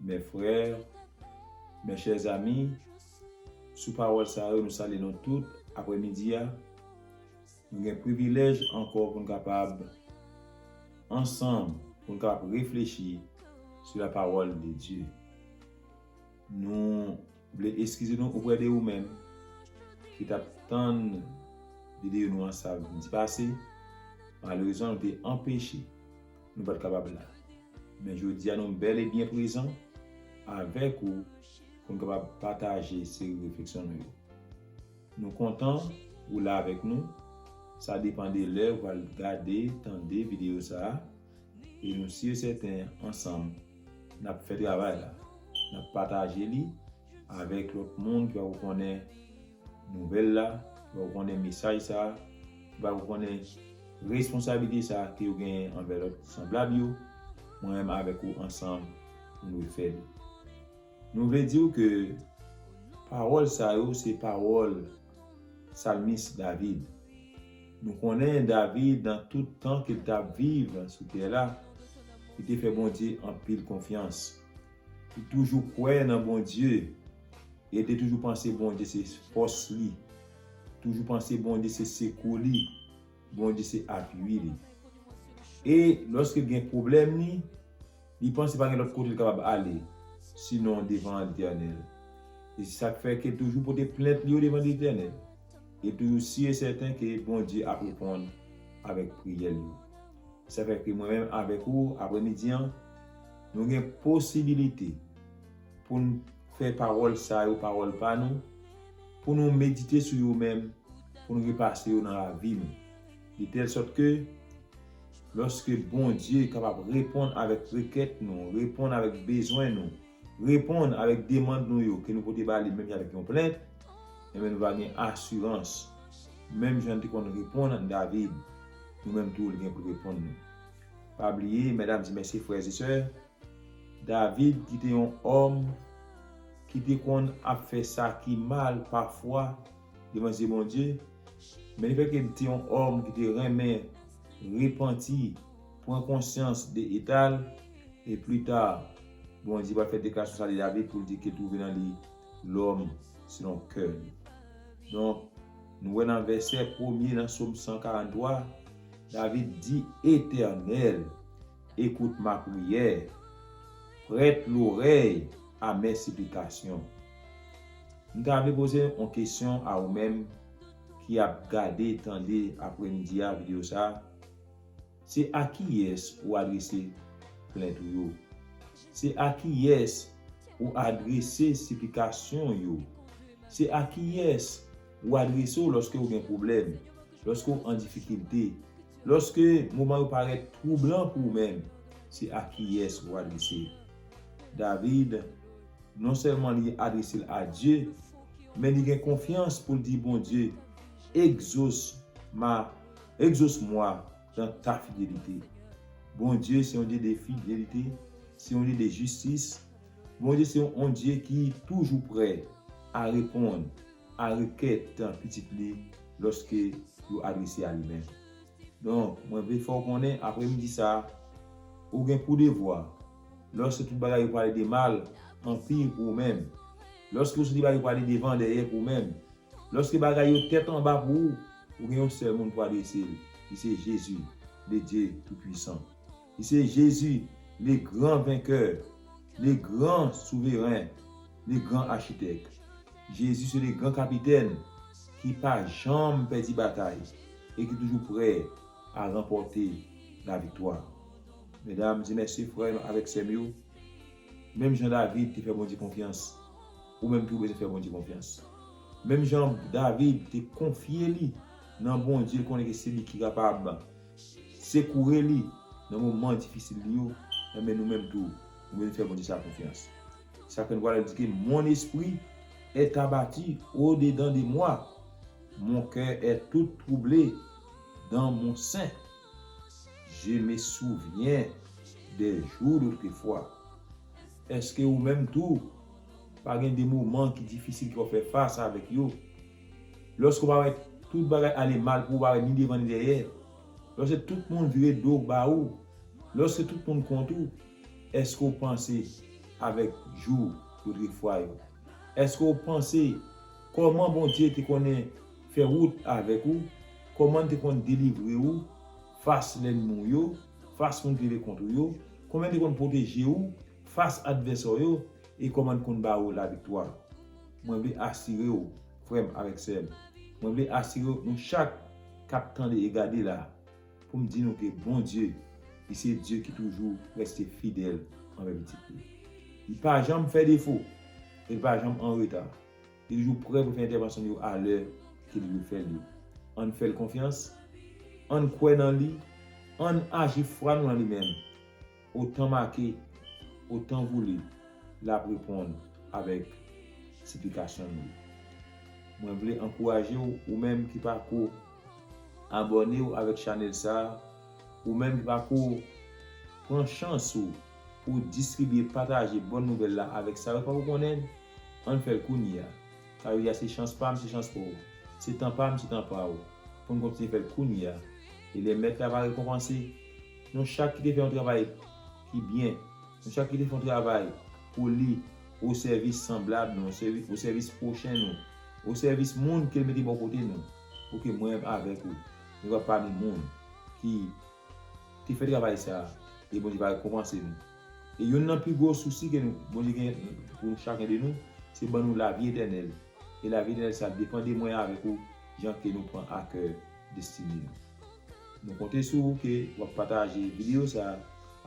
Mes frères, mes chers amis, sou pawòl sa yo nou salye nou tout aprè midi a. Nou gen privilèj ankò pou n kapab ansanm pou n kapab reflechi sou la parole de Dieu. Nou vle eskize nou oprè de ou menm ki t ap tann videyo nou an samdi pase, malerezman nou te anpeche. Nou pat kapab la. Men jodi a nou bèl e byen prezan avèk ou pou nou kapab pataje seri refleksyon nou yo. Nou kontan ou la avèk nou, sa depan de lè ou pral gade, tande videyo sa a, e nou si e sèten ansanm n ap fè travay la, n ap pataje li avèk lòt moun ki pa ko konnen Nouvèl la, fè ou konnen mesaj sa a, ki bay ou konnen responsabilite sa a ke yo genyen anvè lòt sanblab yo, mwen menm avèk ou ansanm nou dwe fè li. Nou vle di ou ke pawòl sa yo se pawòl Salmis David. Nou konnen David nan tout tan ke l t ap viv sou tè la, li te fè Bondye anpil konfyans. Li toujou kwè nan Bondye. Rete toujou panse Bondye se fòs li. Toujou panse Bondye se sekou li. Bondye se apui li. E lòske l gen pwoblèm li, li panse pa gen lòt kote l kapab ale, sinon devan Letènèl. E se sa k fè ke l toujou pote plent li yo devan Letènèl. E l toujou si e sèten ke Bondye ap reponn avèk priyè l yo. Sa fè ke mwen menm avèk ou, apremidi an, nou gen posibilite. Pou n fè pawòl sa yo pawòl pa nou, pou nou medite sou yo menm pou n repase yo nan lavi nou, de tèl sòt ke lòske Bondye kapab reponn avèk rekèt nou, reponn avèk bezwen nou, reponn avèk demand nou yo ke nou pote ba li menm jan avèk yon plent, enben nou va gen asirans, menm jan li te konn reponn David, nou menm tou li gen pou l reponn nou. Pa bliye, mèdam e mesye, frè e sè, David ki te yon òm ki te konn ap fè sa ki mal pafwa devan zye Bondye, men lefètke li te yon òm ki te renmen repanti, pran konsyans de eta l, e plita Bondye pral fè deklarasyon sa de David pou l di ke twouve nan li lòm selon kè l. Donk, nou wè nan vèsè premye nan Sòm 143, David di, Etènèl! Écoute ma prière, prête l'oreille à mes supplications. M ta vle poze yon kesyon a ou menm ki ap gade, tande apremidi a video sa, se a kiyès ou adrese plent ou yo? Se a kiyès ou adrese siplikasyon w yo? Se a kiyès ou adrese w lòske ou gen pwoblèm, lòske w an difikilte? Lòske moman yo parèt twoublan pou ou menm, se a kiyès ou adrese l? David, non sèlman li adrese l a Dye, men li gen konfyans pou l di Bondye, Egzos ma, egzos mwa dan ta fidelite. Bondye se yon Dye de fidelite, se yon Dye de jistis, Bondye se yon Dye ki toujou prè a reponn. a rekèt pitit li lòske yo adrese a li menm. Donk, mwen vle fè w konnen apremidi sa a, ou gen pou devwa, lòske tout bagay yo pale de mal, anpi, pou ou menm, lòske ou soti bagay yo pale devan, dèyè, pou ou menm, lòske bagay yo tèt anba pou ou, ou gen yon sèl moun pou adrese l, li se Jezi, Bndye Toupuisan. Li se Jezi, le gran venkè, le gran souveren, le gran achitèk. Jezi se le gran kapitèn ki pa janm pèdi batay e ki toujou prè a ranpòte laviktwa. Medam e mesye, frè avèk sè m yo, menm jan David te fè Bondye konfyans, ou menm tou bezwen fè Bondye konfyans. Menm jan David te konfye li nan Bondye l konnen ke se li ki kapab, Sekoure li nan moman difisil li yo, enben nou menm tou, nou bezwen fè Bondye sa konfyans. Se sa fè nou pral di ke Mon esprit est abattu au dedans de moi, mon coeur est tout troublé dans mon sein, je me souviens des jours d'autrefois. Eske ou menm tou, pa gen de moman ki difisil ke w ap fè fas avèk yo? Lòske w pa wè tout bagay ale mal pou ou pa wè ni devan ni dèyè, lòske tout moun vire do ba ou, lòske tout moun kont ou, èske w panse avèk jou lotrefwa yo? Èske w panse kòman Bondye te konnen fè wout avèk ou, kòman L te konn delivre ou fas lènmi w yo, fas moun ki leve kont ou yo, kòman L te konn pwoteje ou fas advèsè w yo e kòman L konn ba ou laviktwa? Mwen vle asire w, frè m avèk sè m, mwen vle asire w nou chak k ap tande e gade la a, pou m di nou ke Bondye, li se Dye ki toujou reste fidèl anvè pitit li. Li pa janm fè defo e li pa janm an reta. Li toujou prè pou l fè entèvansyon l yo a lè ke li dwe fè l yo. Ann fè l konfyans, ann kwè nan li, ann aji fwa nou nan li menm. Otan make, otan voule, l ap reponn avèk siplikasyon nou yo. Mwen vle ankouraje w, ou menm ki pa ko abòne w avèk chanèl sa a, ou menm ki pa ko pran chans ou pou w distribye, pataje Bòn Nouvèl la avèk sa yo pa ko konnen l, an n fè l kounye a. Sa vle di a se chans pa m, se chans pa w. Se tan pa m, se tan pa w. Pou n kontinye fè l kounye a. E lè Mèt la va rekonpanse, Nou chak ki te fè yon travay ki byen, nou chak ki te fè yon travay poli osèvis sanblab nou, osèvis pwochen nou, osèvis moun ke L mete bò kote nou, pou ke mwen menm avèk ou, nou va pami moun ki te fè travay sa a, e Bondye va rekonpanse nou. E youn nan pi gwo sousi ke Bondye gen pou chaken de nou, se ban nou lavi etènèl, e lavi etènèl sa a depan de mwen avèk ou, jan ke nou pran akè destine nou. Nou konte sou ou ke w ap pataje videyo sa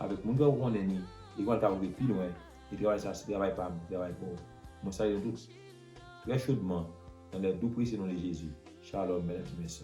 avèk moun fèw konnen ni e kòman l ka rive pi lwen e travay sa se travay pa m travay pa w mwen salye nou tout trè chodman nan lè dou presye non de Jezi Shalom mèdam e mèsè.